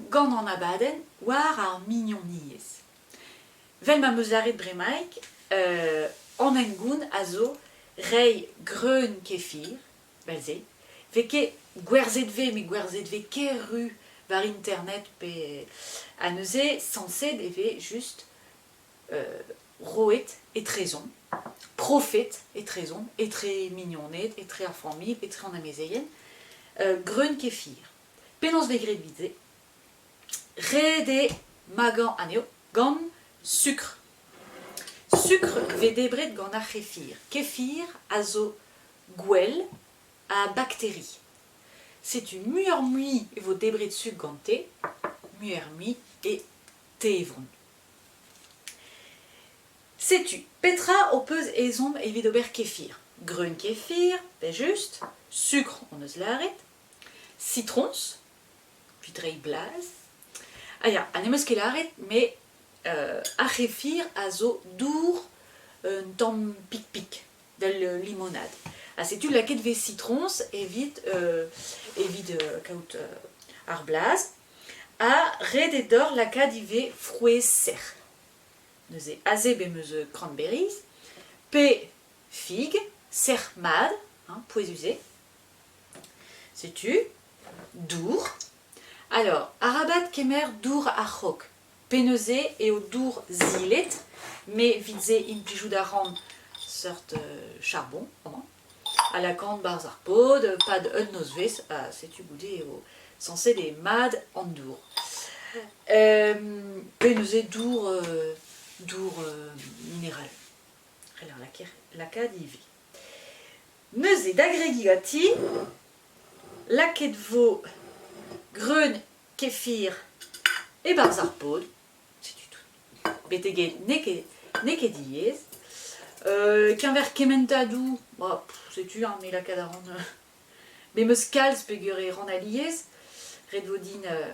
gant an abadenn war ar mignoniezh. Vel ma 'm eus lâret bremaik, an hengoun a zo reiñ greun kefir, 'vel-se, 'vez ket gwerzhet 'vez met gwerzhet 'vez ker-ru war internet pe ha neuze sañset e vez just roet etrezomp, profet etrezomp etre mignoned, etre ar familh, etre an amezeien greun kefir. Penaos vez graet evit se? Ret eo magañ anezho gant sukr. Sukr vez debret gant ar c'hefir. Kefir a zo gwell ha bakteri. Setu muioc'h-mui e vo debret sukr gante, muioc'h-mui e tevron. Setu petra ho peus ezhomm evit ober kefir. Greun kefir, pe just, sukr hon eus lâret, Citroñs, evit reiñ blaz. Ah ya, ha n'em eus ket lâret, met euh, ar c'hefir a zo dour un tamm pik-pik, vel euh, limonade. Ha setu lakaet vez citroñs evit, euh, evit euh, kaout euh, ar blaz. Ha ret eo deoc'h lakaat ivez frouezh sec'h. Neuze aze be meus euh, cranberries, pe fig, sec'h mat, hein, pouez-usé, Setu dour. Alors, arabat kemer dour a-raok. Penaos-se eo dour zilet, met evit se implijout a ran seurt euh, charbon amañ, a lakaan 'barzh ar pod, pad un nozvezh, ha setu goude eo sañset eo mat an dour. penaos eo dour, dour mineral? C'heller lakaat ivez. Neuze, da gregi ganti, lakaet vo greun kefir e-barzh ar pod. Setu tout. Betek n'eo ket, n'eo ket diaes. Euh, keñver kementadou, ba, pff, setu ar me lakaat a ran... euh, me 'm eus kalz peger e ran alies. Ret vo din euh,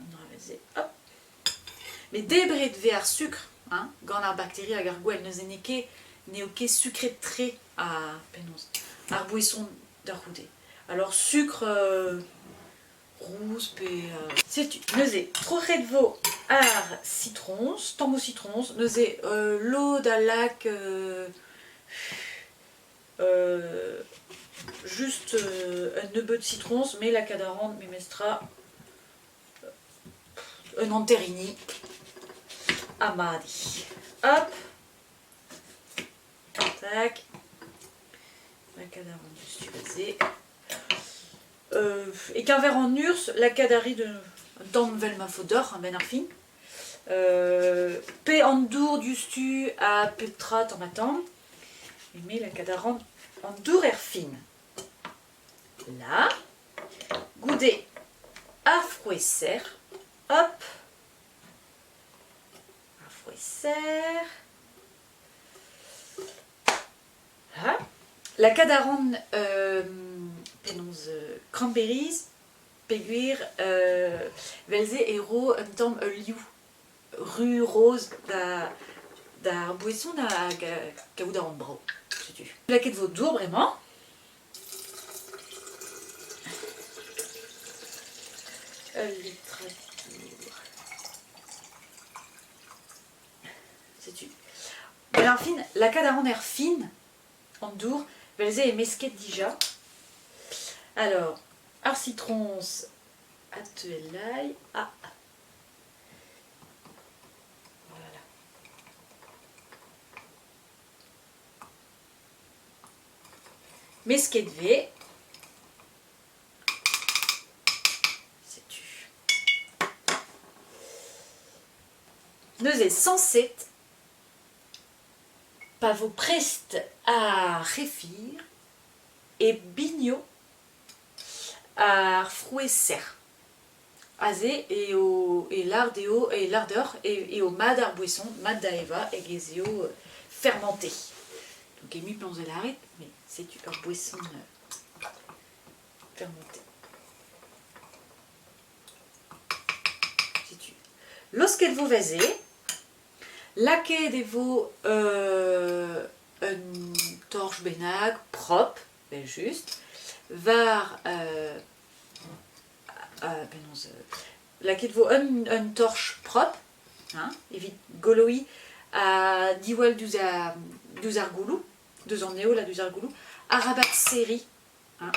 An drevez-se, hop Met debret 'vez ar sukr hein, gant ar bakteri hag ar gwell. Neuze n'eo ket n'eo ket sukret-tre ar penaos ar boeson da c'houde. Alors sucre euh, rouz pe euh, setu. Neuze troc'het 'vo ar citrons, tambour citrons. Neuze euh, lod a lak euh, Just un nebeud sitroñs, me lakaat a ran memestra un hanterini ha madiñ. Hop! Tac, lakaat a ran juste tu basé. E keñver an urz, lakaat a ri un tamm 'vel ma faot deoc'h, a benn ar fin. pe an dour diouzhtu ha pep tra tamm-ha-tamm. Eme la cadarant an dour er fin. Là, goude ar frouezh serr, hop, ar frouezh serr. Ha la cadarant euh, penaos euh, cranberries Peogwir, evel-se e ro un tamm ul liv ru-roz d'ar boeson hag kaout aon brav. Setu. Plaket vo dour bremañ. Un litre dour. Setu. Bon, alors, fin, lakaat a ran er fin an dour. Vel-se e mesket dija. Alors, ar citrons a teuelai. Ah. Voilà. Mesket ve. Sais-tu. Neuze 107 Pa vo prest ar c'hefir e bigno ar frouezh sec'h. Aze eo e lar dezho e lar deoc'h eo mat ar boeson, mat da evañ hag ez eo fermenté. Donc emañ penaos da lâret met setu ur boeson fermenté. Setu. Laosket vo va se. Lakaet e vo un torch bennak propr, evel-just, war penaos lakaet vo un torch propr hein, evit goloiñ ha diwall diouzh ar gouloù, deus an heol ha diouzh ar gouloù, arabat serriñ hein,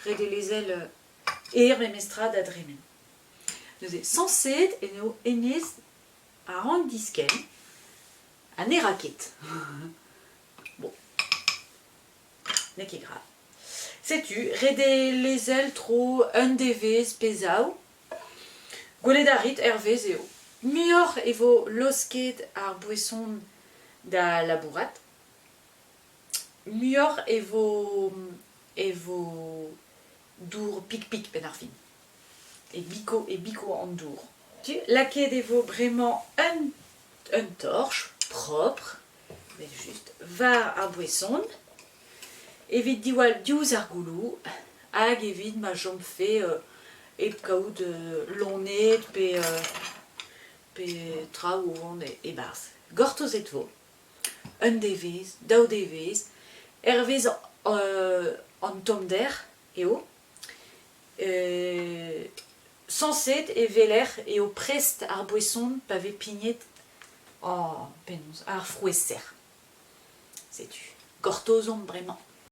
ret eo lezel er memestra da dremen. Neuze sañset eo hennezh a ran diskenn ha ne ra ket. bon, n'eo ket grave. Setu, ret eo lezel tro un devezh pe zaou. Gwelet a rit, hervez eo. Muioc'h e vo laosket ar boeson da labourat, muioc'h e vo, e vo dour pik-pik penn ar fin. E biko, e biko an dour. Lakaet e vo bremañ un, un torch propr, evel just, war ar boeson, evit diwall diouzh ar gouloù, hag evit ma chomfe euh, hep kaout euh, loned pe, euh, pe traoù o vont e- e-barzh. Gortozet vo. un devezh, daou devezh, hervez an tommder eo, sañset e weler eo prest ar boeson pa vez pignet ar frouezh serr. Setu, gortozomp bremañ.